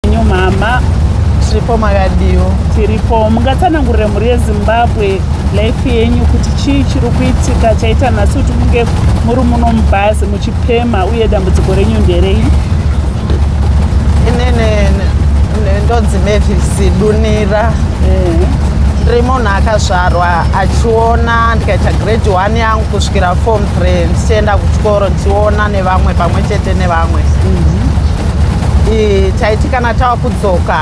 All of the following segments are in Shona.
Nyu mama tiripo makadiwo tiripo mungatsanangurire mhuri yezimbabwe life yenyu kuti chii chiri kuitika chaita nhasi kuti munge muri muno mubhazi muchipema uye dambudziko renyu nderei inini ndonzi mevisi dunira ndiri munhu akazvarwa achiona ndikaita grade one yangu kusvikira form three ndichienda kuchikoro ndichiona nevamwe pamwe chete nevamwe mm -hmm iyi taiti kana tava kudzoka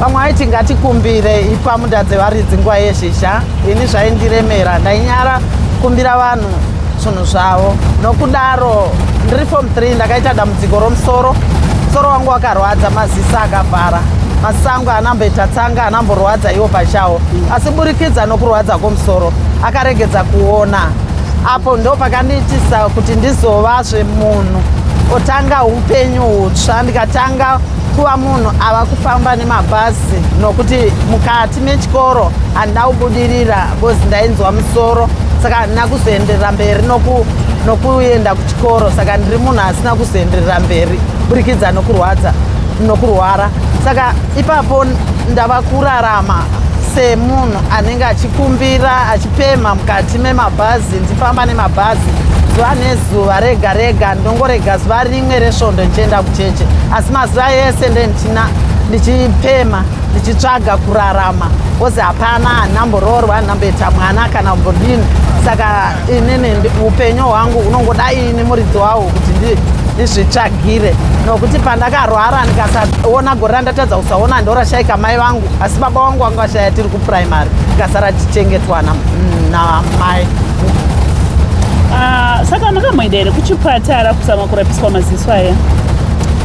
vamwe vaiti ngatikumbire ipa munda dzevaridzi nguva yezhizha ini zvaindiremera ndainyara kumbira vanhu zvinhu zvavo nokudaro ndiri fom 3 ndakaita dambudziko romusoro musoro wangu wakarwadza mazisa akavhara masango anamboita tsanga anamborwadza iwo pachawo asi burikidza nokurwadza kwomusoro akaregedza kuona apo ndo pakandiitisa kuti ndizovazve munhu otanga upenyu hutsva ndikatanga kuva munhu ava kufamba nemabhazi nokuti mukati mechikoro handina kubudirira bcause ndainzwa musoro saka handina kuzoenderera mberi nokuenda kuchikoro saka ndiri munhu asina kuzoenderera mberi burikidza nokurwadza nokurwara saka ipapo ndava kurarama semunhu anenge achikumbira pema mukati memabhazi ndifamba nemabhazi zuva nezuva rega rega ndongorega zuva rimwe resvondo ndichienda kucheche asi mazuva ese ndendichina ndichipema ndichitsvaga kurarama kozi hapana hanamboroorwa hanamboita mwana kana mbodini saka inini upenyu hwangu unongoda ini muridzi wawo kuti ndizvitsvagire nokuti pandakarwara ndikasaona gore randatadza kusaona ndorashaika mai vangu asi baba wangu vanga vashaya tiri kuprimary tikasara tichengetwa namai ah, saka makamboenda here kuchipatara kuzama kurapiswa maziso aya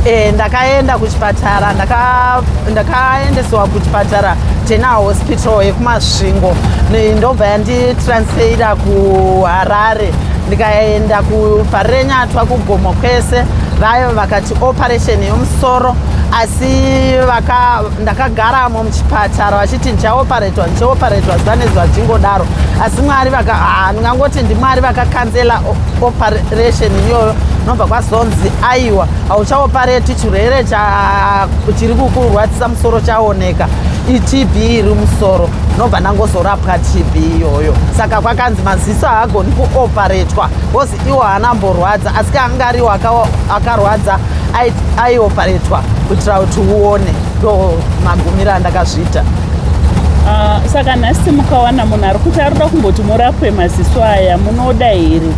e, ndakaenda kuchipatara ndakaendesewa ndaka kuchipatara tena hospital yekumasvingo ndobva yanditransfeira kuharare ndikaenda kuparenyatwa kugomo kwese vayo vakati operation yomusoro asi ndakagaramo muchipatara vachiti ndichaoparetwa ndichaoparetwa zuva nezuva zvichingodaro asi mwari ah, ndingangoti ndimwari vakakanzela operation iyoyo nobva kwazonzi aiwa hauchaopareti chirwere chiri kukurwadzisa musoro chaoneka itb iri musoro nobva ndangozorapwa tb iyoyo saka kwakanzi maziso haagoni kuoparetwa iwo haana amborwadza asi kaanga ariwo akarwadza aioparetwa kuitira kuti uone ndo magumiro andakazviita ah, saka nhasi mukawana munhu ari kuti ari kuda kumboti murapwe maziso aya munoda here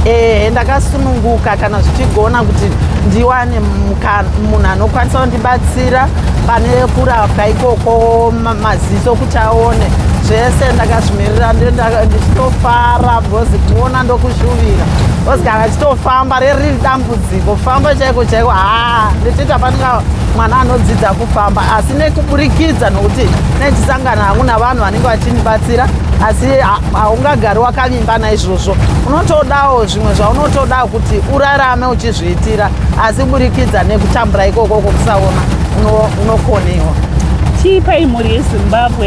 ehe ndakasununguka kana zvichigona kuti ndiwane munhu anokwanisa kundibatsira pane kurapwa ikoko maziso kuti aone zvese ndakazvimirira ndichitofara Ngozi kuona ndokuzvuvira. Ngozi kana chitofamba riri dambudziko famba chaiko chaiko haa ndichiita panika mwana anodzidza kufamba asi nekuburikidza nokuti nechisangano hangu navanhu vanenge vachindibatsira asi haungagari wakavimba naizvozvo unotodawo zvimwe zvaunotoda kuti urarame uchizviitira asi burikidza nekutambura ikoko kokusaona unokonewa tiipai mhuri yezimbabwe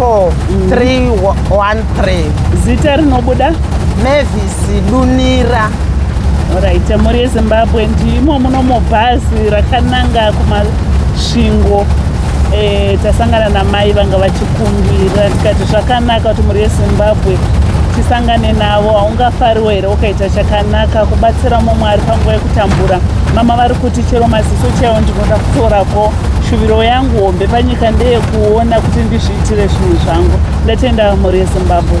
4 3 1 3 zita rinobuda mavis dunira orit mhuri yezimbabwe ndimo muno mubhazi rakananga kumasvingo e, tasangana namai vanga vachikumbira tikati zvakanaka kuti mhuri yezimbabwe tisangane navo haungafariwo here ukaita chakanaka kubatsira mumwe ari panguva yekutambura mama vari kuti chero maziso chaiwo ndinoda kutorako Shuviro yangu hombe panyika ndeyekuona kuti ndizviitire zvinhu zvangu. Ndatenda mhuri yeZimbabwe.